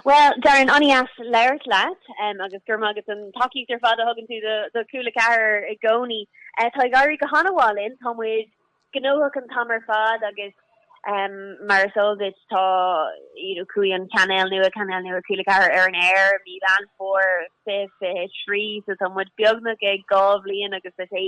Bhuel, Darren, an-dheas labhairt leat agus go raibh maith agat don tacaíocht ar fad a thugann tú do Cúla 4 i gcónaí. Tá ag éirí go han-mhaith linn, tá muid gnóthach an t-am ar fad agus mar is eol duit tá you know chuaigh an chainéal nua, cainéal nua Cúla 4 ar an aer i mí Mheán Fómhair 2023 so tá muid beagnach ag dhá bhliain agus is é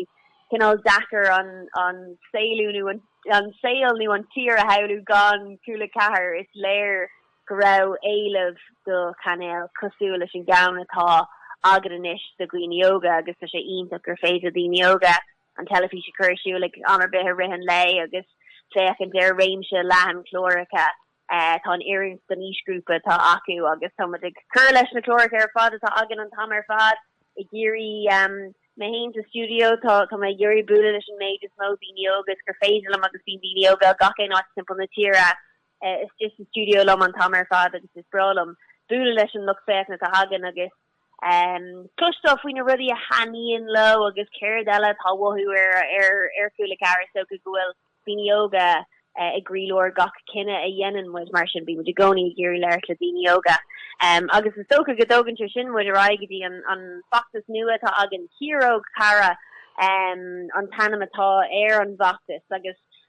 cineál deacair an an saolú nó an saol nó an tír a shamhlú gan Cúla 4, is léir. go raibh éileamh do chainéal cosúil leis an gceann atá againn anois do dhaoine óga agus tá sé iontach gur féidir le daoine óga an teilifís a chur ar siúl ag am ar bith i rith an lae agus féachaint ar réimse leathan cláracha atá in oiriúint don aoisghrúpa atá acu agus tá muid ag cur leis na cláracha ar fad atá againn an t-am ar fad ag iarraidh mé fhéin sa stiúideo tá mé ag iarraidh bualadh leis an méid is mó daoine óga is gur féidir liom agus bíonn daoine óga ó gach aon áit timpeall na tíre istigh sa stiúideo liom an t-am ar fad agus is breá liom bualadh leis an lucht féachana atá againn agus cloisteáil faoi na rudaí a thaitníonn leo agus céard eile atá uathu ar Chúla 4. Is dócha go bhfuil daoine óga i gcroílár gach cinneadh a dhéanann muid, mar sin bíonn muid i gcónaí ag iarraidh labhairt le daoine óga agus is dócha go dtógann sé sin muid ar aghaidh go dtí an feachtas nua atá againn, Ciaróg Cara an t-ainm atá ar an bhfeachtas agus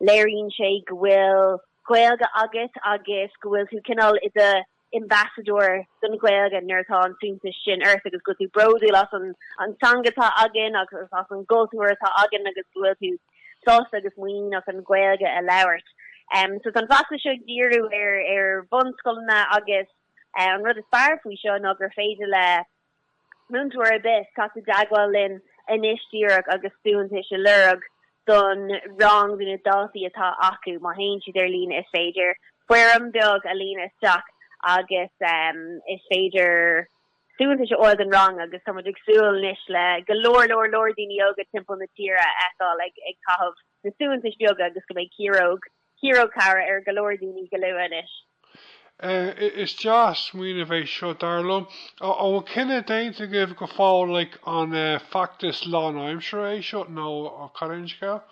Léiríonn sé go bhfuil Gaeilge agat agus go bhfuil tú cineál i do ambassadóir don Ghaeilge nuair atá an suaitheantas sin ort agus go bhfuil tú bródúil as an teanga atá againn agus as an gcultúr atá againn agus go bhfuil tú sásta agus muiníneach an Ghaeilge a labhairt. So tá an feachtas seo ag díriú ar bhunscoileanna agus an rud is fearr faoi seo ná gur féidir le Múinteoir ar bith, teacht i dteagmháil linn anois díreach agus suaitheantais a lorg don rang do na daltaí atá acu. Má théann siad ar líne, is féidir foirm bheag a líonadh isteach agus is féidir suaitheantais a fháil don rang agus tá muid ag súil anois le go leor leor leor daoine óga timpeall na tíre a fheiceáil ag caitheamh na suaitheantais beaga agus go mbeidh ciaróg Ciaróg Cara ar go leor daoine go luath anois. Eh, is deas smaoineamh é seo, dar liom. Ó, an bhfuil cinneadh déanta agaibh go fóill, like, an eh, feachtas lánaimseartha é seo, nó cad é an scéal?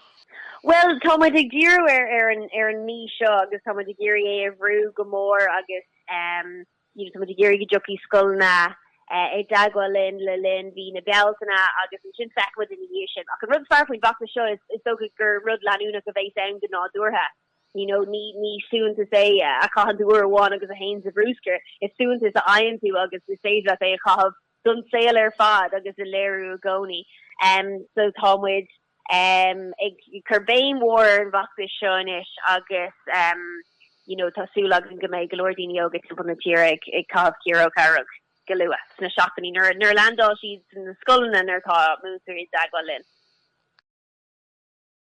Bhuel, tá muid ag díriú ar, ar an, ar an mí seo, agus tá muid ag iarraidh é a bhrú go mór, agus eh, Tá muid ag iarraidh go dtiocfaidh scoileanna i dteagmháil linn le linn mhí na Bealtaine agus ansin feicfidh muid ina dhiaidh sin. Ach an rud is fearr faoin bhfeachtas seo is dócha gur rud leanúnach a bheas ann go nádúrtha. You know, ní ní suaitheantas é a chaitheann tú uair amháin agus a théann sa bhrúscar, is suaitheantas a fhaigheann tú agus is féidir leat é a chaitheamh don saol ar fad agus a léiriú i gcónaí. So tá muid. ag cur béim mhór ar an bhfeachtas seo anois agus you know tá súil againn go mbeidh go leor daoine óga timpeall na tíre ag ag caitheamh ciaróg dhearg go luath sna seachtainí nuair nuair a leaindeáil siad sna scoileanna nuair atá múinteoirí i dteagmháil linn.